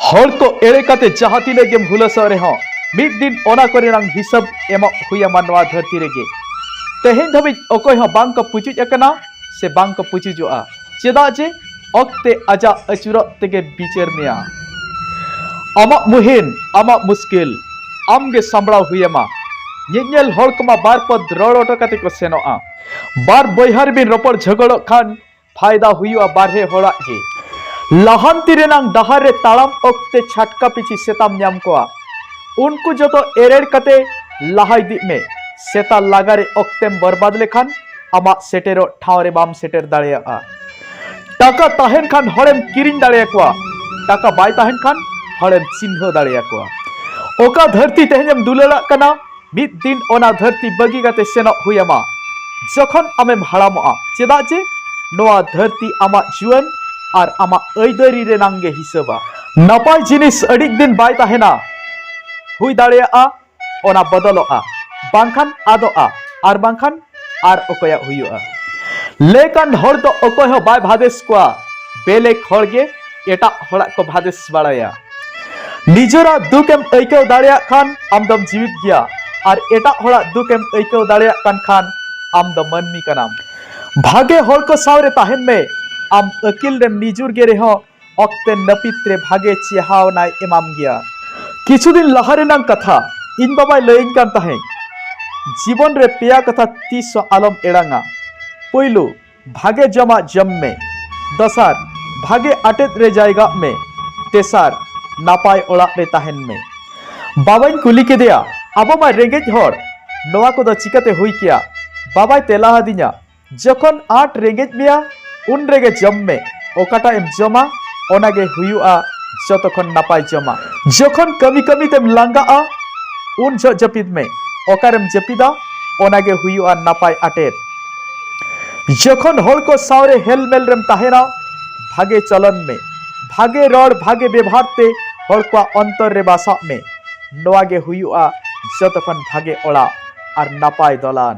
ᱦᱚᱲ ᱠᱚ ᱮᱲᱮ ᱠᱟᱛᱮ ᱡᱟᱦᱟᱸ ᱛᱤᱱᱟᱹᱜ ᱜᱮᱢ ᱦᱩᱞᱟᱹᱥᱚᱜ ᱨᱮᱦᱚᱸ ᱢᱤᱫ ᱫᱤᱱ ᱚᱱᱟ ᱠᱚᱨᱮᱱᱟᱝ ᱦᱤᱥᱟᱹᱵ ᱮᱢᱚᱜ ᱦᱩᱭᱟᱢᱟ ᱱᱚᱣᱟ ᱫᱷᱟᱹᱨᱛᱤ ᱨᱮᱜᱮ ᱛᱮᱦᱮᱧ ᱫᱷᱟᱹᱵᱤᱡ ᱚᱠᱚᱭ ᱦᱚᱸ ᱵᱟᱝ ᱠᱚ ᱯᱩᱪᱩᱡ ᱟᱠᱟᱱᱟ ᱥᱮ ᱵᱟᱝ ᱠᱚ ᱯᱩᱪᱩᱡᱚᱜᱼᱟ ᱪᱮᱫᱟᱜ ᱡᱮ ᱚᱠᱛᱮ ᱟᱡᱟᱜ ᱟᱹᱪᱩᱨᱚᱜ ᱛᱮᱜᱮ ᱵᱤᱪᱟᱹᱨ ᱢᱮᱭᱟ ᱟᱢᱟᱜ ᱢᱩᱦᱤᱢ ᱟᱢᱟᱜ ᱢᱩᱥᱠᱤᱞ ᱟᱢᱜᱮ ᱥᱟᱢᱵᱲᱟᱣ ᱦᱩᱭᱟᱢᱟ ᱧᱮᱧᱮᱞ ᱦᱚᱲ ᱠᱚᱢᱟ ᱵᱟᱨ ᱯᱚᱫ ᱨᱚᱲ ᱚᱴᱚ ᱠᱟᱛᱮ ᱠᱚ ᱥᱮᱱᱚᱜᱼᱟ ᱵᱟᱨ ᱵᱚᱭᱦᱟ ᱨᱮᱵᱤᱱ ᱨᱚᱯᱚᱲ ᱡᱷᱚᱜᱚᱲᱚᱜ ᱠᱷᱟᱱ ᱯᱷᱟᱭᱫᱟ ᱦᱩᱭᱩᱜᱼᱟ ᱵᱟᱨᱦᱮ ᱦᱚᱲᱟᱜ ᱜᱮ ᱞᱟᱦᱟᱱᱛᱤ ᱨᱮᱱᱟᱝ ᱰᱟᱦᱟᱨ ᱨᱮ ᱛᱟᱲᱟᱢ ᱚᱠᱛᱮ ᱪᱷᱟᱴᱠᱟ ᱯᱤᱪᱷᱤ ᱥᱮᱛᱟᱢ ᱧᱟᱢ ᱠᱚᱣᱟ ᱩᱱᱠᱩ ᱡᱚᱛᱚ ᱮᱨᱮᱲ ᱠᱟᱛᱮ ᱞᱟᱦᱟ ᱤᱫᱤᱜ ᱢᱮ ᱥᱮᱛᱟ ᱞᱟᱜᱟ ᱨᱮ ᱚᱠᱛᱮᱢ ᱵᱚᱨᱵᱟᱫ ᱞᱮᱠᱷᱟᱱ ᱟᱢᱟᱜ ᱥᱮᱴᱮᱨᱚᱜ ᱴᱷᱟᱶ ᱨᱮ ᱵᱟᱢ ᱥᱮᱴᱮᱨ ᱫᱟᱲᱮᱭᱟᱜᱼᱟ ᱴᱟᱠᱟ ᱛᱟᱦᱮᱱ ᱠᱷᱟᱱ ᱦᱚᱲᱮᱢ ᱠᱤᱨᱤᱧ ᱫᱟᱲᱮᱭᱟᱠᱚᱣᱟ ᱴᱟᱠᱟ ᱵᱟᱭ ᱛᱟᱦᱮᱱ ᱠᱷᱟᱱ ᱦᱚᱲᱮᱢ ᱪᱤᱱᱦᱟᱹᱣ ᱫᱟᱲᱮᱭᱟᱠᱚᱣᱟ ᱚᱠᱟ ᱫᱷᱟᱹᱨᱛᱤ ᱛᱮᱦᱮᱧᱮᱢ ᱫᱩᱞᱟᱹᱲᱟᱜ ᱠᱟᱱᱟ ᱢᱤᱫ ᱫᱤᱱ ᱚᱱᱟ ᱫᱷᱟᱹᱨᱛᱤ ᱵᱟᱹᱜᱤ ᱠᱟᱛᱮ ᱥᱮᱱᱚᱜ ᱦᱩᱭ ᱟᱢᱟ ᱡᱚᱠᱷᱚᱱ ᱟᱢᱮᱢ ᱦᱟᱲᱟᱢᱚᱜᱼᱟ ᱪᱮᱫᱟᱜ ᱡᱮ ᱱᱚᱣᱟ ᱫᱷᱟᱹᱨᱛᱤ ᱟᱢᱟᱜ ᱡᱩᱣᱟᱹᱱ ᱟᱨ ᱟᱢᱟᱜ ᱟᱹᱭᱫᱟᱹᱨᱤ ᱨᱮᱱᱟᱝ ᱜᱮ ᱦᱤᱥᱟᱹᱵᱟ ᱱᱟᱯᱟᱭ ᱡᱤᱱᱤᱥ ᱟᱹᱰᱤ ᱫᱤᱱ ᱵᱟᱭ ᱛᱟᱦᱮᱱᱟ ᱦᱩᱭ ᱫᱟᱲᱮᱭᱟᱜᱼᱟ ᱚᱱᱟ ᱵᱚᱫᱚᱞᱚᱜᱼᱟ ᱵᱟᱝᱠᱷᱟᱱ ᱟᱫᱚᱜᱼᱟ ᱟᱨ ᱵᱟᱝᱠᱷᱟᱱ ᱟᱨ ᱚᱠᱚᱭᱟᱜ ᱦᱩᱭᱩᱜᱼᱟ ᱞᱮᱠᱟᱱ ᱦᱚᱲ ᱫᱚ ᱚᱠᱚᱭ ᱦᱚᱸ ᱵᱟᱭ ᱵᱷᱟᱫᱮᱥ ᱠᱚᱣᱟ ᱵᱮᱞᱮᱠ ᱦᱚᱲ ᱜᱮ ᱮᱴᱟᱜ ᱦᱚᱲᱟᱜ ᱠᱚ ᱵᱷᱟᱫᱮᱥ ᱵᱟᱲᱟᱭᱟ ᱱᱤᱡᱮᱨᱟᱜ ᱫᱩᱠ ᱮᱢ ᱟᱹᱭᱠᱟᱹᱣ ᱫᱟᱲᱮᱭᱟᱜ ᱠᱷᱟᱱ ᱟᱢ ᱫᱚᱢ ᱡᱤᱣᱤᱫ ᱜᱮᱭᱟ ᱟᱨ ᱮᱴᱟᱜ ᱦᱚᱲᱟᱜ ᱫᱩᱠ ᱮᱢ ᱟᱹᱭᱠᱟᱹᱣ ᱫᱟᱲᱮᱭᱟᱜ ᱠᱟᱱ ᱠᱷᱟᱱ ᱟᱢ ᱫᱚ ᱢᱟᱹᱱᱢᱤ ᱠᱟᱱᱟᱢ ᱵᱷᱟᱜᱮ ᱦᱚᱲ ᱠᱚ ᱥᱟᱶ ᱨᱮ ᱛᱟᱦᱮᱱ ᱢᱮ ᱟᱢ ᱟᱹᱠᱤᱞ ᱨᱮᱢ ᱱᱤᱡᱩᱨ ᱜᱮ ᱨᱮᱦᱚᱸ ᱚᱠᱛᱮ ᱱᱟᱹᱯᱤᱛ ᱨᱮ ᱵᱷᱟᱜᱮ ᱪᱮᱦᱟᱣᱱᱟᱭ ᱮᱢᱟᱢ ᱜᱮᱭᱟ ᱠᱤᱪᱷᱩ ᱫᱤᱱ ᱞᱟᱦᱟ ᱨᱮᱱᱟᱝ ᱠᱟᱛᱷᱟ ᱤᱧ ᱵᱟᱵᱟᱭ ᱞᱟᱹᱭᱟᱹᱧ ᱠᱟᱱ ᱛᱟᱦᱮᱸᱫ ᱡᱤᱵᱚᱱ ᱨᱮ ᱯᱮᱭᱟ ᱠᱟᱛᱷᱟ ᱛᱤᱥ ᱦᱚᱸ ᱟᱞᱚᱢ ᱮᱲᱟᱝᱟ ᱯᱳᱭᱞᱳ ᱵᱷᱟᱜᱮ ᱡᱚᱢᱟᱜ ᱡᱚᱢ ᱢᱮ ᱫᱚᱥᱟᱨ ᱵᱷᱟᱜᱮ ᱟᱴᱮᱫ ᱨᱮ ᱡᱟᱭᱜᱟᱜ ᱢᱮ ᱛᱮᱥᱟᱨ ᱱᱟᱯᱟᱭ ᱚᱲᱟᱜ ᱨᱮ ᱛᱟᱦᱮᱱ ᱢᱮ ᱵᱟᱵᱟᱧ ᱠᱩᱞᱤ ᱠᱮᱫᱮᱭᱟ ᱟᱵᱚ ᱢᱟ ᱨᱮᱸᱜᱮᱡ ᱦᱚᱲ ᱱᱚᱣᱟ ᱠᱚᱫᱚ ᱪᱤᱠᱟᱹᱛᱮ ᱦᱩᱭ ᱠᱮᱭᱟ ᱵᱟᱵᱟᱭ ᱛᱮᱞᱟ ᱟᱫᱤᱧᱟ ᱡᱚᱠᱷᱚᱱ ᱟᱸᱴ ᱨᱮᱸᱜᱮᱡ ᱢᱮᱭᱟ ᱩᱱ ᱨᱮᱜᱮ ᱡᱚᱢ ᱢᱮ ᱚᱠᱟᱴᱟᱜ ᱮᱢ ᱡᱚᱢᱟ ᱚᱱᱟ ᱜᱮ ᱦᱩᱭᱩᱜᱼᱟ ᱡᱚᱛᱚ ᱠᱷᱚᱱ ᱱᱟᱯᱟᱭ ᱡᱚᱢᱟ ᱡᱚᱠᱷᱚᱱ ᱠᱟᱹᱢᱤ ᱠᱟᱹᱢᱤ ᱛᱮᱢ ᱞᱟᱸᱜᱟᱜᱼᱟ ᱩᱱ ᱡᱚᱦᱚᱜ ᱡᱟᱹᱯᱤᱫ ᱢᱮ ᱚᱠᱟᱨᱮᱢ ᱡᱟᱹᱯᱤᱫᱟ ᱚᱱᱟ ᱜᱮ ᱦᱩᱭᱩᱜᱼᱟ ᱱᱟᱯᱟᱭ ᱟᱴᱮᱫ ᱡᱚᱠᱷᱚᱱ ᱦᱚᱲ ᱠᱚ ᱥᱟᱶᱨᱮ ᱦᱮᱞᱢᱮᱞ ᱨᱮᱢ ᱛᱟᱦᱮᱱᱟ ᱵᱷᱟᱜᱮ ᱪᱚᱞᱚᱱ ᱢᱮ ᱵᱷᱟᱜᱮ ᱨᱚᱲ ᱵᱷᱟᱜᱮ ᱵᱮᱵᱷᱟᱨ ᱛᱮ ᱦᱚᱲ ᱠᱚᱣᱟᱜ ᱚᱱᱛᱚᱨ ᱨᱮ ᱵᱟᱥᱟᱜ ᱢᱮ ᱱᱚᱣᱟ ᱜᱮ ᱦᱩᱭᱩᱜᱼᱟ ᱡᱚᱛᱚ ᱠᱷᱚᱱ ᱵᱷᱟᱜᱮ ᱚᱲᱟᱜ ᱟᱨ ᱱᱟᱯᱟᱭ ᱫᱚᱞᱟᱱ᱾